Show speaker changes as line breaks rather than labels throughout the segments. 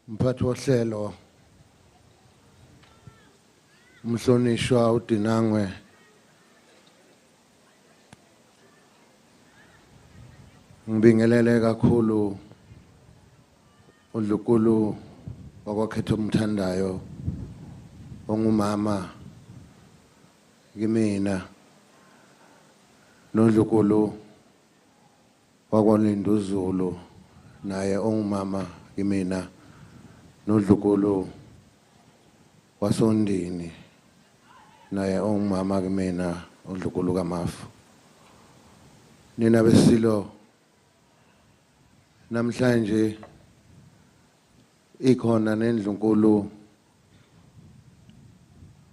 Mphathi wohlelo umhlonishwa uDinangwe ngibingelele kakhulu uNdlukulu wakwakhetha umthandayo ongumama kimina nondlukulu wakwaninduzulu naye ongumama kimina nodlukulu wasondini naye ongumama kimina udlukulu kamafu nina besilo namhlanje ikhona nendlunkulu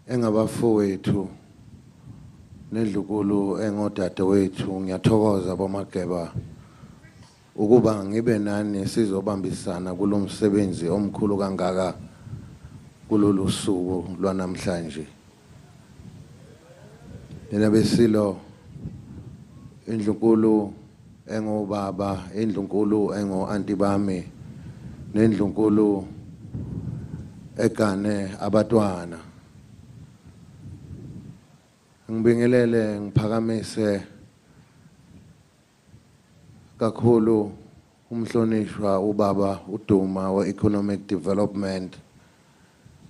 engabafowethu nedlukulu engodadewethu ngiyathokoza bomageba ukuba ngibe nani sizobambisana kulomsebenzi omkhulu kangaka kulolu suku lwanamhlanje nina besilo indlunkulu engobaba indlunkulu engo-anti bami nendlunkulu egane abatwana ngibingelele ngiphakamise kakhulu Umhlonishwa ubaba uDuma we Economic Development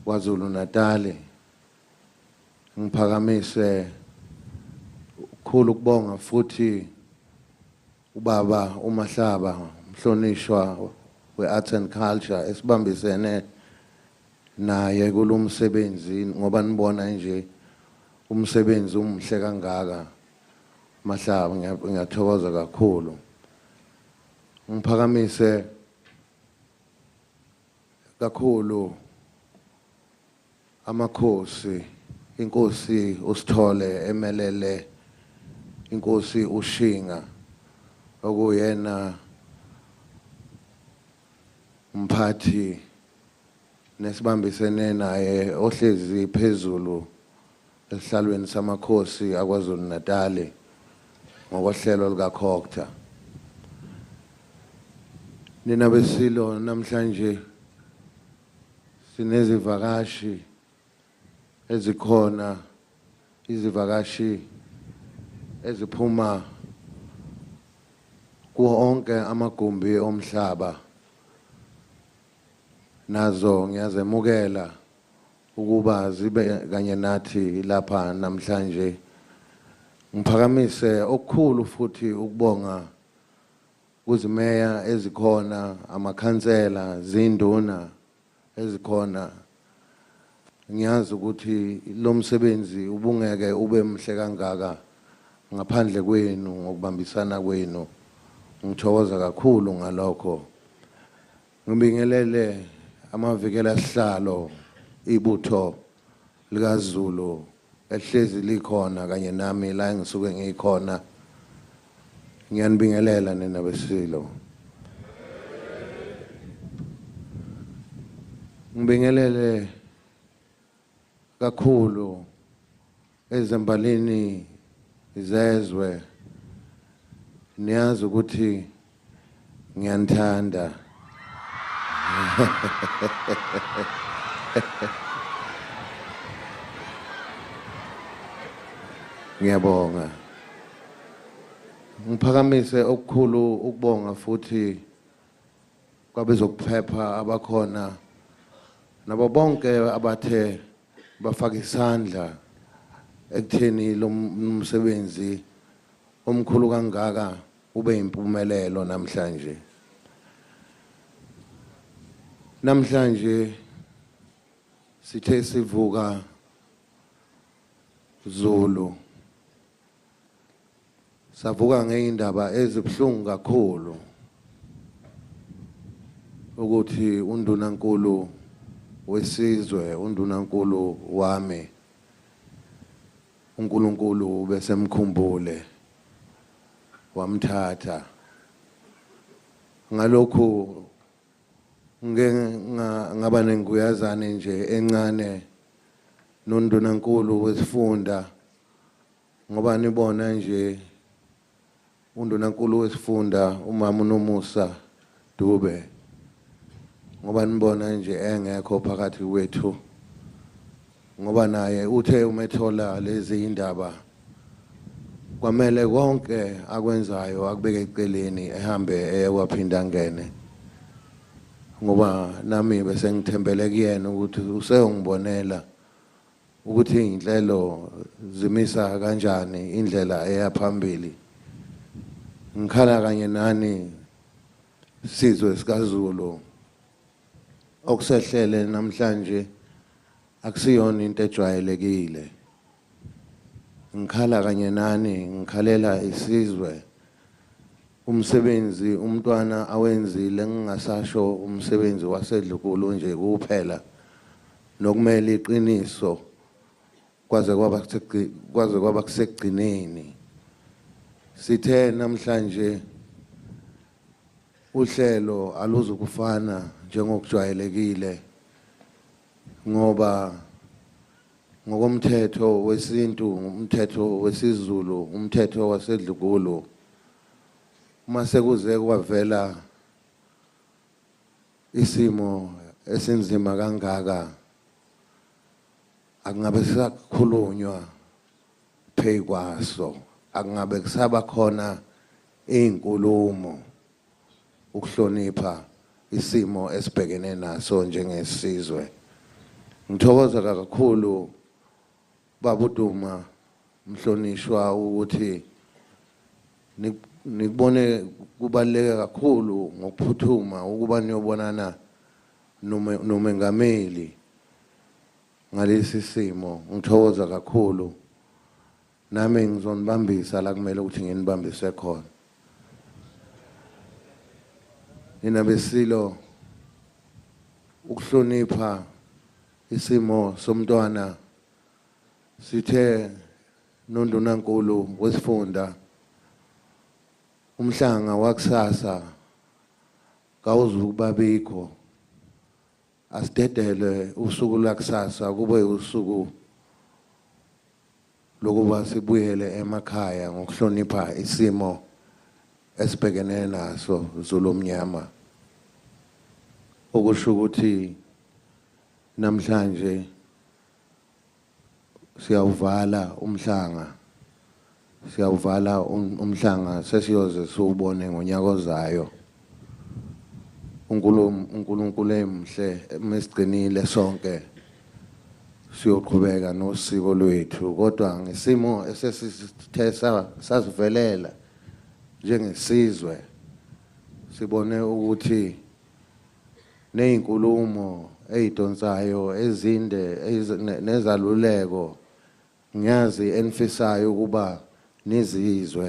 kwaZulu Natali ngiphakamise ukukhulu kubonga futhi ubaba uMahlaba umhlonishwa weArts and Culture esibambisene naye kulomsebenzi ngoba nibona nje umsebenzi umuhle kangaka Mahlaba ngiyathokoza kakhulu ngiphakamise kakhulu amakhosi inkosi usithole emelele inkosi ushinga okuyena umphathi nesibambisene naye ohlezi phezulu esihlalweni samakhosi aKwaZulu-Natali ngokohlelo lukaCocta. Nina beSilo namhlanje sinezivakashi ezikhona izivakashi eziphuma kuwo onke amagumbi omhlaba nazo ngiyazemukela ukuba zibe kanye nathi lapha namhlanje ngiphakamise okukhulu futhi ukubonga kuzimeya ezikhona amakhansela zinduna ezikhona ngiyazi ukuthi lo msebenzi ubungeke ube mhle kangaka ngaphandle kwenu ngokubambisana kwenu ngithokoza kakhulu ngalokho Ngibingelele amavikela sihlalo ibutho likaZulu ehlezi likhona kanye nami la engisuke ngikhona ngiyanibingelela nina besilo ngibingelele kakhulu Ezimbalini zezwe niyazi ukuthi ngiyanithanda. Ngiyabonga. Ngiphakamise okukhulu ukubonga futhi kwabezokuphepha abakhona nabo bonke abathe bafaka isandla ekutheni lo msebenzi omkhulu kangaka ube impumelelo namhlanje namhlanje sithe sivuka Zulu savuka ngeindaba ezibuhlungu kakhulu ukuthi undunankulu wesizwe undunankulu wami uNkulunkulu besemkhumbule wamthatha ngalokhu ngike ngaba nenguyazane nje encane nondunankulu wesifunda ngoba nibona nje undunankulu wesifunda umama unomusa dube ngoba nibona nje engekho phakathi kwethu ngoba naye uthe umethola lezi indaba kwamele konke akwenzayo akubeke eceleni ehambe eye kwaphinda ngene ngoba nami bese ngithembele kuyena ukuthi useyongibonela ukuthi iy'nhlelo zimisa kanjani indlela eya phambili ngikhala kanye nani sizwe sikaZulu okusehlele namhlanje akusiyona into ejwayelekile ngikhala kanye nani ngikhalela isizwe umsebenzi umntwana awenzile ngingasasho umsebenzi wasedlukulu nje kuphela nokumele iqiniso kwaze kwaba kwaze kwaba kusekugcineni sithe namhlanje uhlelo aluzukufana njengokujwayelekile ngoba ngokomthetho wesintu umthetho wesiZulu umthetho wasedlukulu uma sekuze kwavela isimo esinzima kangaka akungabe sisakhulunywa pheyi kwaso akungabe kusaba khona iy'nkulumo ukuhlonipha isimo esibhekene naso njengesizwe ngithokoza kakhulu babuduma mhlonishwa ukuthi nikubone kubaluleke kakhulu ngokuphuthuma ukuba niyobonana nomengameli ngalesi simo ngithokoza kakhulu nami ngizonibambisa la kumele ukuthi nginibambise khona nina besilo ukuhlonipha isimo somntwana sithe nondunankulu wesifunda umhlanga wakusasa kawuzukuba bikho asidedele usuku lakusasa kube usuku lokuba sibuyele emakhaya ngokuhlonipha isimo esibhekene naso Zulu omnyama okusho ukuthi namhlanje siyawuvala umhlanga siyawuvala um-, umhlanga sesiyoze siwubone ngonyaka ozayo uNkulunkulu emhle mesigcinile sonke siyoqhubeka nosiko lwethu kodwa ngesimo esesithe sasivelela njengesizwe sibone ukuthi nezinkulumo ezidonsayo ezinde nezaluleko ngiyazi enifisayo ukuba nizizwe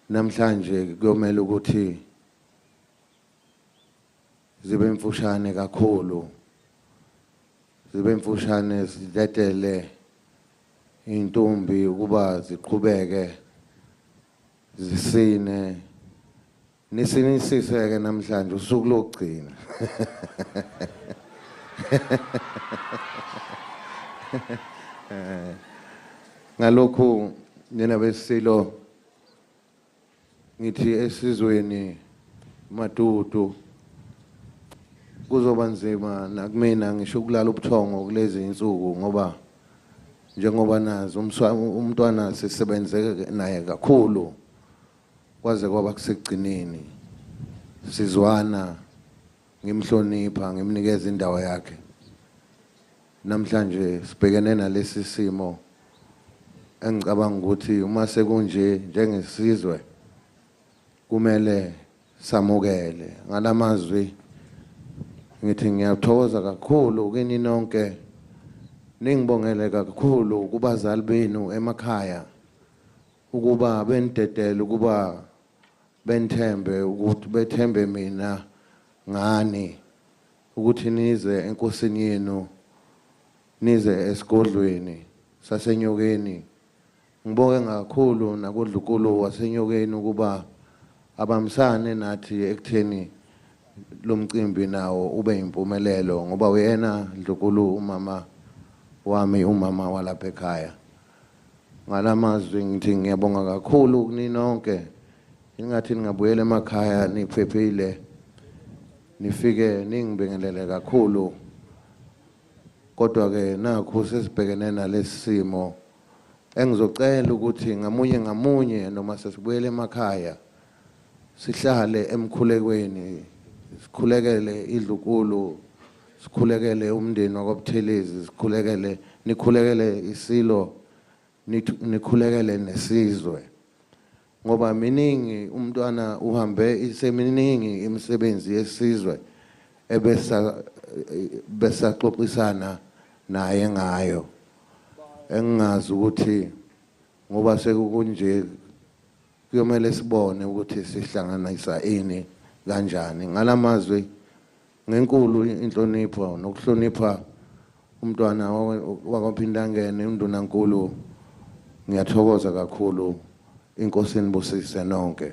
namhlanje kuyomela ukuthi zibe mfushane kakhulu zibe mfushane sidedele intombi ukuba ziqhubeke zisine Nisinisise-ke namhlanje usuku lokugcina. Ngalokhu nina besilo ngithi esizweni madudu kuzoba nzima nakumina ngisho ukulala ubuthongo kulezi insuku ngoba njengoba nazi umntwana sisebenze naye kakhulu Kwaze kwaba kusekugcineni sizwana ngimhlonipha ngimnikeza indawo yakhe. Namhlanje sibhekene nalesi simo engicabanga ukuthi uma sekunje njengesizwe kumele samukele ngalamazwi ngithi ngiyathokoza kakhulu kini nonke ningibongele kakhulu kubazali benu emakhaya ukuba benidedele ukuba benithembe ukuthi bethembe mina ngani ukuthi nize enkosini yenu nize esigodlweni sasenyokeni ngibonge kakhulu nakodlukulu wasenyokeni ukuba abamsane nathi ekutheni lo mcimbi nawo ube yimpumelelo ngoba uyena ndlukulu umama wami umama walapha ekhaya ngalamazwi ngithi ngiyabonga kakhulu kuninonke ingathi ningabuyela emakhaya niphephile nifike ningibingelele kakhulu kodwa ke nakho sesibhekene nalesimo engizocela ukuthi ngamunye ngamunye noma sesibuyele emakhaya sihlale emkhulekweni sikhulekele idlukulu sikhulekele umndeni wakwaButhelezi sikhulekele nikhulekele isilo nikhulekele nesizwe ngoba miningi umntwana uhambe iseminingi imisebenzi yesizwe ebesa besaxoxisana naye ngayo engingazi ukuthi ngoba sekukunje kuyomele sibone ukuthi sihlanganisa ini kanjani ngalamazwi ngenkulu inhlonipho nokuhlonipha umntwana wakwaphindangene undunankulu ngiyathokoza kakhulu inkosi inibusise nonke